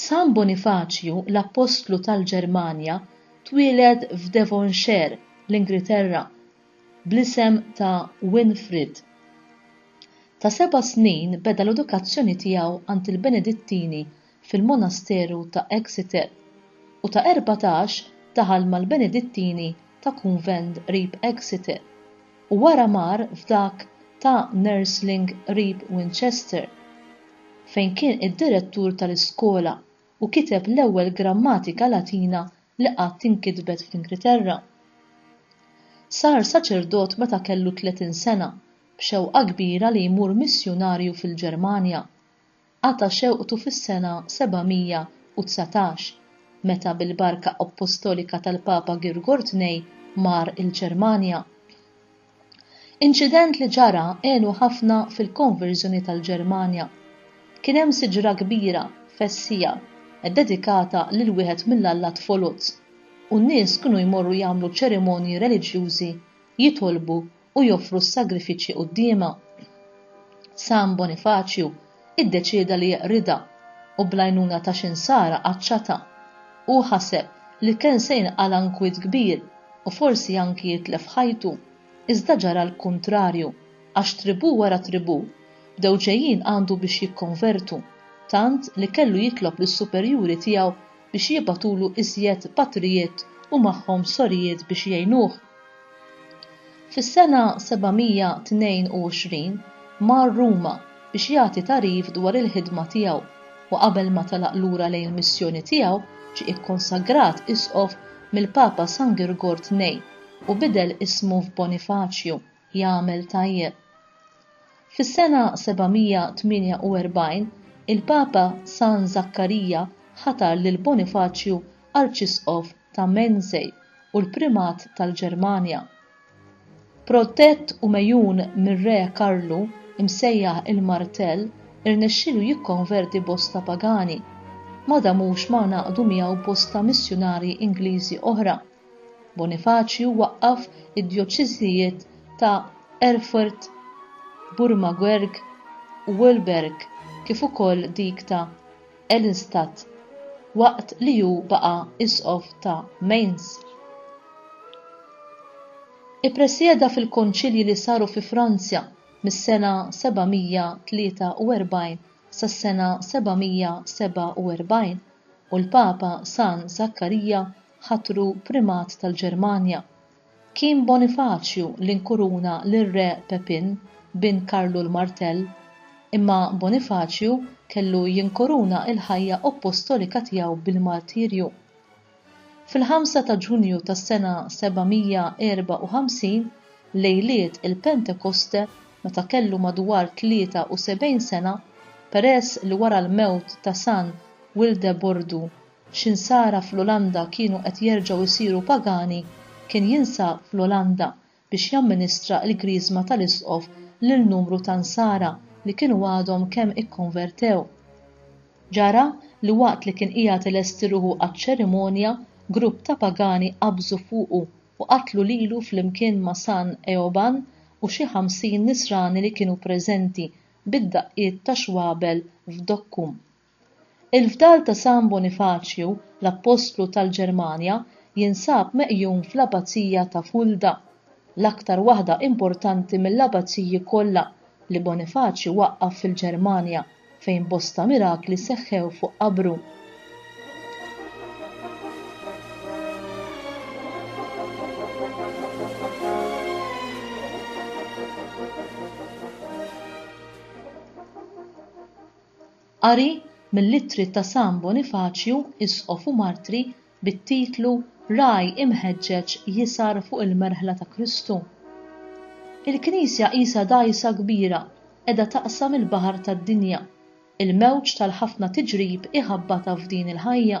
San Bonifaċju l-Appostlu tal-Ġermanja twieled f'Devonshire, l-Ingriterra, bl-isem ta' Winfrid. Ta' seba' snin beda l-edukazzjoni tiegħu għand il-Benedittini fil-monasteru ta' Exeter, u ta' erbatax daħal mal-Benedittini ta' kunvent qrib Exeter. u wara mar f'dak ta' Nursling qrib Winchester, fejn kien id-direttur tal-iskola u kiteb l-ewwel grammatika Latina li qatt inkitbet fl-Ingilterra. Sar saċerdot meta kellu tletin sena b'xewqa kbira li jmur missjunarju fil-Ġermanja. qata' xewqtu fis-sena 719, meta bil-barka appostolika tal-Papa Girgor Tnej mar il-Ġermanja. Inċident li ġara għenu ħafna fil-konverżjoni tal-Ġermanja. Kien hemm siġra kbira, fessija, ddedikata lil wieħed mill-allat foloz, u n-nies kienu jmorru jagħmlu ċerimonji reliġjużi, jitolbu u joffru s-sagrifiċċji quddiemha. San Bonifaċju iddeċieda li jeqridha u bl-għajnuna ta' xi nsara qaċċatha. Hu ħaseb li kien se jinqala' nkwiet kbir u forsi anki jitlef ħajtu, iżda ġara l-kuntrarju għax tribù wara tribù bdew ġejjin għandu biex jikkonvertu, tant li kellu jitlob lis-superjuri tiegħu biex jibgħatulu iżjed patrijiet u magħhom sorijiet biex jgħinuh. Fis-sena 722 mar Ruma biex jagħti tagħrif dwar il-ħidma tiegħu u qabel ma telaq lura lejn il-missjoni tiegħu ġie ikkonsagrat Isqof mill-Papa San Girgor Tnejn u bidel ismu f'Bonifaċju. jagħmel tajjeb. Fis-sena 748, il-Papa San Żakkarija ħatar lil Bonifaċju Arċisqof ta' Mensej u l-Primat tal-Ġermanja. Protett u megħjun mir-Re Karlu, imsejjaħ il-Martell, irnexxielu jikkonverti bosta pagani. Ma damux ma ngħaqdu miegħu bosta missjunarji Ingliżi oħra. Bonifaċju waqqaf id-djoċeżijiet ta' Erfurt, Burmaguerg u Wöllberg kif ukoll dik ta' Eilenstadt waqt li hu baqa' Isqof ta' Mainz. Ippresjeda fil-Konċilji li saru fi Franzja mis-sena 743 sas-sena 747 u l-Papa San Żakkarija ħatru Primat tal-Ġermanja. Kien Bonifaċju li nkuruna lir-Re Pepin, bin Karlu l-Martell. Imma Bonifaċju kellu jinkuruna l-ħajja oppostolika tiegħu bil-martirju. Fil-ħamsa ta' Ġunju tas-sena 754, lejliet il-Pentekoste, meta kellu madwar 73 sena, peress li wara l-mewt ta' San Wildebordu x'insara fl-Olanda kienu qed jerġgħu jsiru pagani, kien jinsab fl-Olanda biex jamministra l-Griżma tal-Isqof lil numru ta' nsara li kienu għadhom kemm ikkonvertew. Ġara li waqt li kien qiegħed ilesti ruħu għaċ-ċerimonja, grupp ta' pagani qabżu fuqu u qatlu lilu flimkien ma' San Eoban u xi ħamsin nisrani li kienu preżenti bid-daqqiet ta' xwabel f'dokkhom. Il-fdal ta' San Bonifaċju l-Appostlu tal-Ġermanja jinsab meqjum fl-Abbazija ta' Fulda, l-aktar waħda importanti mill-abbaziji kollha li Bonifaċju waqqaf fil-Ġermanja fejn bosta mirakli seħħew fuq qabru. Qari mill-ittri ta' San Bonifaċju, Isqof u Martri, bit-titlu Ragħaj imħeġġeġ jisgħar fuq il-merħla ta' Kristu. Il-Knisja qisha dgħajsa kbira qiegħda taqsam il-baħar tad-dinja, il-mewġ tal-ħafna tiġrib iħabbatha f'din il-ħajja,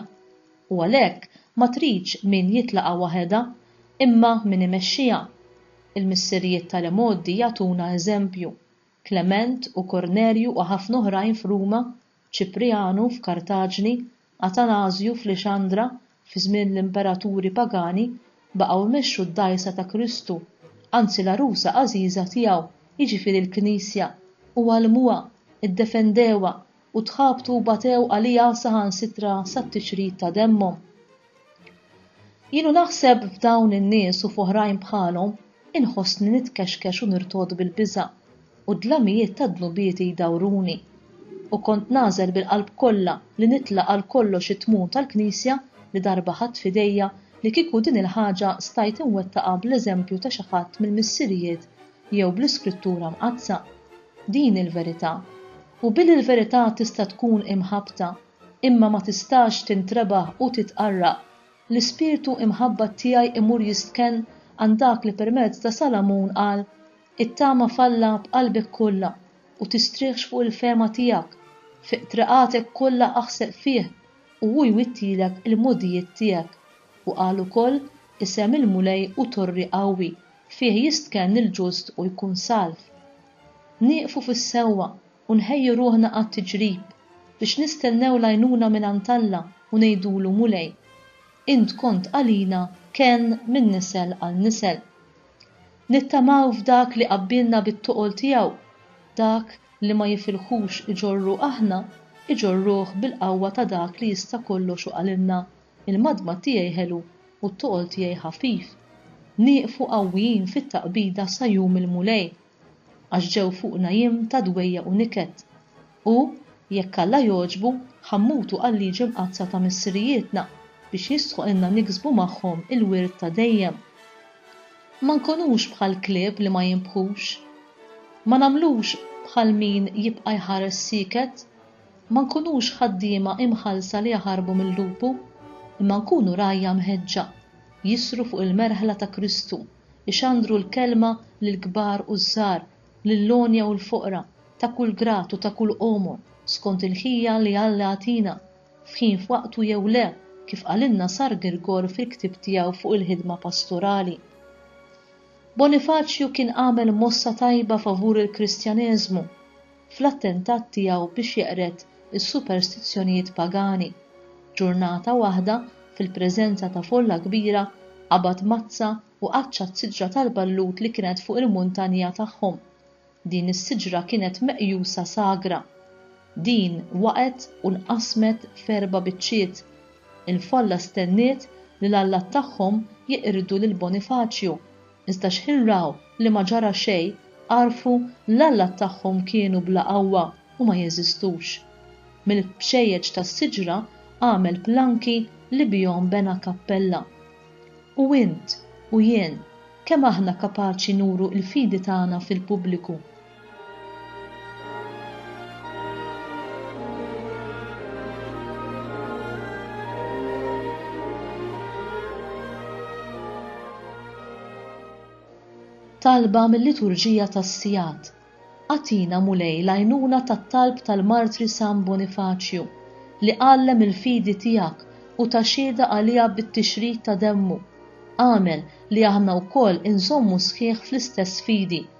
u għalhekk ma tridx min jitlaqgħa waħedha, imma min imexxiha. Il-missirijiet tal-imgħoddi jagħtuna eżempju. Klement u Kornelju u ħafna oħrajn f'Ruma, Ċiprijanu f'Kartaġni, Atanażju f'Lixandra, fi żmien l-imperaturi pagani, baqgħu jmexxu d-dgħajsa ta' Kristu, anzi l-għarusa għażiża tiegħu, jiġifieri l-Knisja, u għallmuha, iddefendewha, u tħabtu u batew għaliha saħansitra sat-tiċrit ta' demmhom. Jien u naħseb f'dawn in-nies u f'oħrajn bħalhom, inħossni nitkexkex u nirtod bil-biża', u d-dlamijiet tad-dnubieti jdawruni. U kont nagħżel bil-qalb kollha li nitla' għal kollox it-tmun tal-Knisja li darba ħadt f'idejja li kieku din il-ħaġa stajt inwettaqha bl-eżempju ta' xi ħadd mill-missirijiet jew bl-Iskrittura Mqaddsa, din il-verità. U billi l-verità tista' tkun imħabbta, imma ma tistax tintrebaħ u titqarraq, l-ispirtu imħabbat tiegħi imur jistkenn għand dak li permezz ta' Salamun qal, Ittama f'Alla b'qalbek kollha, u tistrieħx fuq il-fehma tiegħek, fi qtriqatek kollha aħseb fih, u hu jwittilek il-mogħdijiet tiegħek. U qal ukoll, Isem il-Mulej hu torri qawwi, Fih jistkenn il-ġust u jkun salv. Nieqfu fis-sewwa u nħejju ruħna għat-tiġrib biex nistennew l-għajnuna mingħand Alla u ngħidulu, Mulej, int kont għalina kenn minn nisel għal nisel. Nittamaw f'dak li qabbilna bit-toqol tiegħu, dak li ma jifilħux iġorru aħna, iġorruh bil-qawwa ta' dak li jista' kollox u qalilna, il-madmad tiegħi ħelu u t-toqol tiegħi ħafif, nieqfu qawwijin fit-taqbida sa jum il-Mulej, għax ġew fuqna jiem ta' dwejjaq u niket, u, jekk Alla jogħġbu, ħa mmutu għal-liġi mqaddsa ta' missirijietna, biex jistħoqilna niksbu magħhom il-wirt ta' dejjem. Ma nkunux bħal klieb li ma jinbħux. Ma nagħmlux bħal min jibqa' jħares sieket. Ma nkunux ħaddiema imħallsa li jaħarbu mil-lupu, imma nkunu rgħajja mħeġġa, jisru fuq il-merħla ta' Kristu, ixandru l-kelma lill-kbar u ż-żgħar, lill-għonja u l-foqra, ta' kull grad u ta' kull għomor, skont il-ħila li Alla jagħtina, f'ħin f'waqtu jew le, kif qalilna Sar Girgor fil-ktieb tiegħu fuq il-ħidma pastorali. Bonifaċju kien għamel mossa tajba favur il-Kristjaneżmu. fl-attentat tiegħu biex jeqred is-superstizzjonijiet pagani. Ġurnata waħda, fil-preżenza ta' folla kbira, qabad mazza u qaċċa t-siġra tal-ballut li kienet fuq il-muntanja tagħhom. Din is-siġra kienet meqjusa sagra. Din waqgħet u nqasmet f'erba' biċċiet. Il-folla stenniet li l-allat tagħhom jeqirdu lil Bonifaċju. Iżda xħin raw li ma ġara xejn, għarfu l-allat tagħhom kienu bla qawwa u ma jeżistux. Mill-bxejjeġ tas-siġra għamel planki li bihom bena kappella. U int u jien, kemm aħna kapaċi nuru l-fidi tagħna fil-pubbliku? Talba mil-Liturġija tas-Sigħat. Agħtina Mulej l-għajnuna tat-talb tal-martri San Bonifaċju, li għallem il-fidi tiegħek u ta xhieda għaliha bit-tixrid ta' demmu. Agħmel li aħna wkoll inżommu sħiħ fl-istess fidi